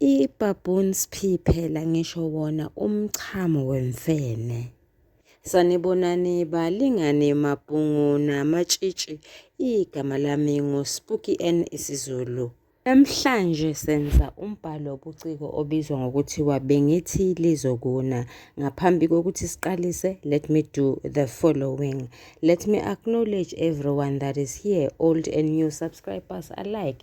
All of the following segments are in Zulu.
I-baboon sphi phela ngisho wona umchamo wemfene. Sanibonani balingane mabhungu namatshitshi igama lami nguSpooky N isiZulu. Namhlanje senza umbhalo wobuciko obizwa ngokuthiwa bengithi lizokuna. Ngaphambi kokuthi siqalise, let me do the following. Let me acknowledge everyone that is here, old and new subscribers alike.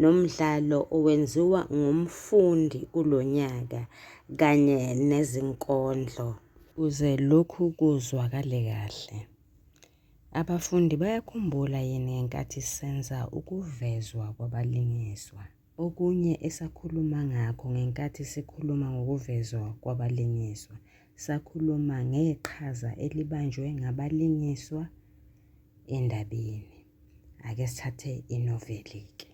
nomdlalo owenziwa ngumfundi kulo nyaka kanye nezinkondlo. Ukuze lokhu kuzwakale kahle, abafundi bayakhumbula yini ngenkathi senza ukuvezwa kwabalingiswa? Okunye esakhuluma ngakho ngenkathi sikhuluma ngokuvezwa kwabalingiswa sakhuluma ngeqhaza elibanjwe ngabalingiswa endabeni. Ake sithathe inoveli-ke.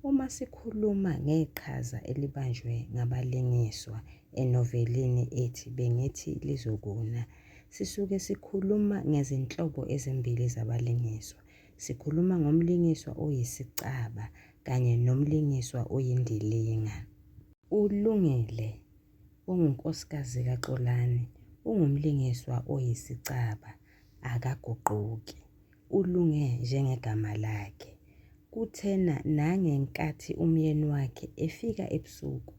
Uma sikhuluma ngeqhaza elibanjwe ngabalingiswa enovelini ethi Bengithi Lizokuna, sisuke sikhuluma ngezinhlobo ezimbili zabalingiswa. Sikhuluma ngomlingiswa oyisicaba kanye nomlingiswa oyindilinga. ULungile ungunkosikazi kaXolani, ungumlingiswa oyisicaba, akaguquki, ulunge njengegama lakhe. Kuthena nangenkathi umyeni wakhe efika ebusuku,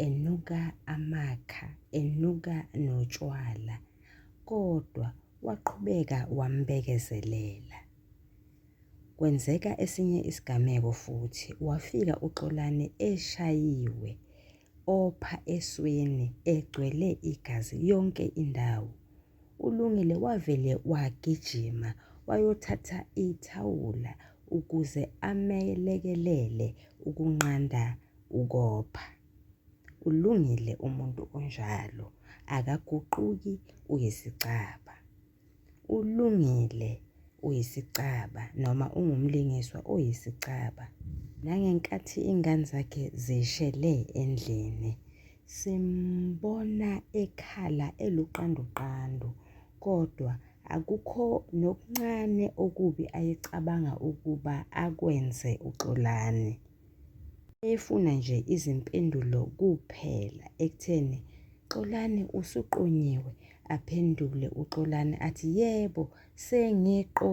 enuka amakha, enuka notshwala, kodwa waqhubeka wambekezelela. Kwenzeka esinye isigameko futhi, wafika uXolani eshayiwe, opha esweni egcwele igazi yonke indawo. ULungile wavele wagijima wayothatha ithawula ukuze amelekelele ukunqanda ukopha. Ulungile umuntu onjalo, akaguquki uyisicaba. Ulungile uyisicaba noma ungumlingiswa oyisicaba. Nangenkathi ingane zakhe zishele endlini, simbona ekhala eluqanduqandu kodwa akukho nokuncane okubi ayecabanga ukuba akwenze uXolani. Efuna nje izimpendulo kuphela ekutheni Xolani usuqonyiwe aphendule uXolani athi yebo sengiqo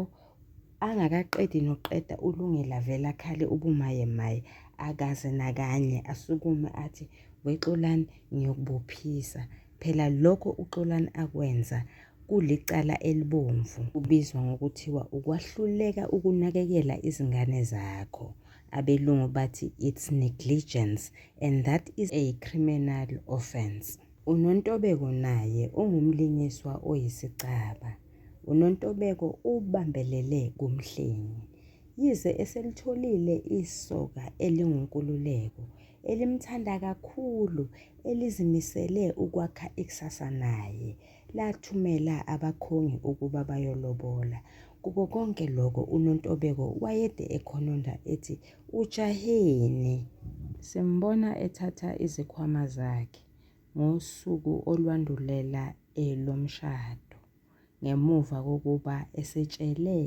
angakaqedi noqeda ulungela vela khale ubumaye maye akaze nakanye asukume athi wexolani ngiyokubophisa Phela lokho uXolani akwenza kulicala elibomvu kubizwa ngokuthiwa ukwahluleka ukunakekela izingane zakho. Abelungu bathi it's negligence and that is a criminal offence. UNontobeko naye ungumlingiswa oyisicaba. UNontobeko ubambelele kuMhlengi. Yize eselitholile isoka elinguNkululeko, elimthanda kakhulu elizimisele ukwakha ikusasa naye, lathumela abakhongi ukuba bayolobola. Kuko konke lokho uNontobeko wayede ekhononda ethi ujaheni. Simbona ethatha izikhwama zakhe ngosuku olwandulela elomshado ngemuva kokuba esetshele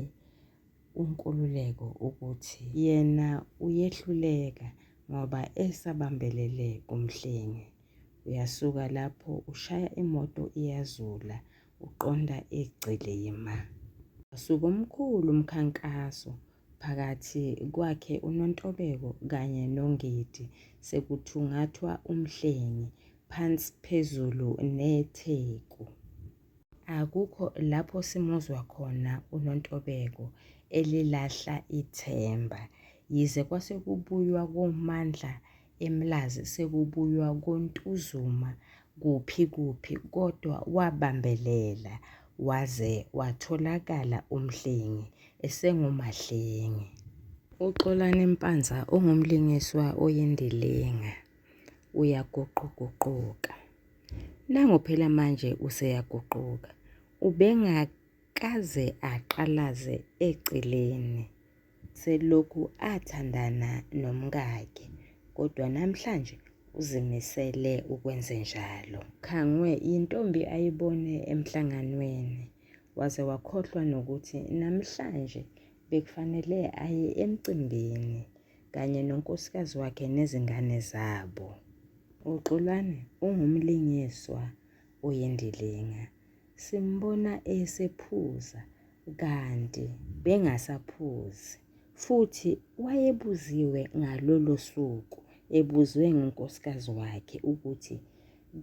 uNkululeko ukuthi yena uyehluleka ngoba esabambelele kuMhlengi. Uyasuka lapho ushaya imoto iyazula uqonda eGcilima. Wasuka omkhulu umkhankaso phakathi kwakhe uNontobeko kanye noNgidi sekuthungathwa uMhlengi phansi phezulu neTheku. Akukho lapho simuzwa khona uNontobeko elilahla ithemba. Yize kwase kubuywa koMandla eMlazi sekubuywa koNtuzuma kuphi kuphi kodwa wabambelela waze watholakala uMhlengi esenguMahlengi. UXolani Mpanza ungumlingiswa oyindilinga, uyaguquguquka. Nango phela manje useyaguquka. Ubengakaze aqalaze eceleni. Selokhu athandana nomkakhe kodwa namhlanje uzimisele ukwenzenjalo. Khangwe yintombi ayibone emhlanganweni waze wakhohlwa nokuthi namhlanje bekufanele aye emcimbini. kanye nonkosikazi wakhe nezingane zabo. UXolani ungumlingiswa oyindilinga. Simbona esephuza kanti bengasaphuzi futhi wayebuziwe ngalolo suku ebuzwe ngunkosikazi wakhe ukuthi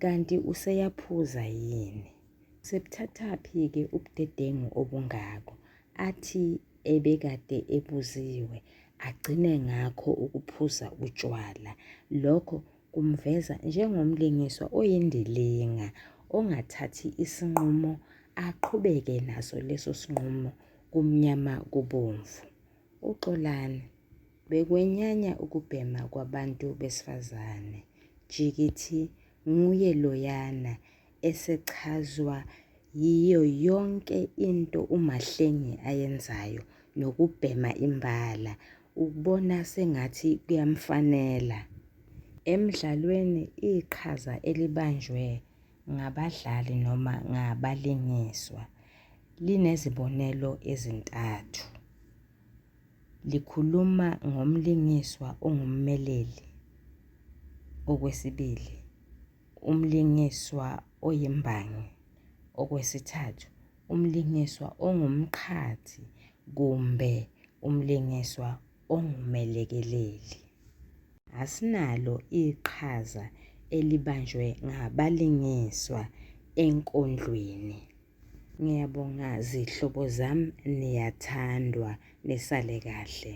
kanti useyaphuza yini. Sebuthathaphi-ke ubudedengu obungako? Athi ebekade ebuziwe agcine ngakho ukuphuza utshwala. Lokho kumveza njengomlingiswa oyindilinga ongathathi isinqumo aqhubeke naso leso sinqumo kumnyama kubomvu. UXolani bekwenyanya ukubhema kwabantu besifazane. Jikithi nguye loyana esechazwa yiyo yonke into uMahlengi ayenzayo nokubhema imbala ukubona sengathi kuyamfanela. Emdlalweni iqhaza elibanjwe ngabadlali noma ngabalingiswa linezibonelo ezintathu. Likhuluma ngomlingiswa ongummeleli, okwesibili, Umlingiswa oyimbangi, okwesithathu, umlingiswa ongumqhathi kumbe umlingiswa ongumelekeleli. Asinalo iqhaza elibanjwe ngabalingiswa enkondlweni. Ngiyabonga zihlobo zami niyathandwa nisale kahle.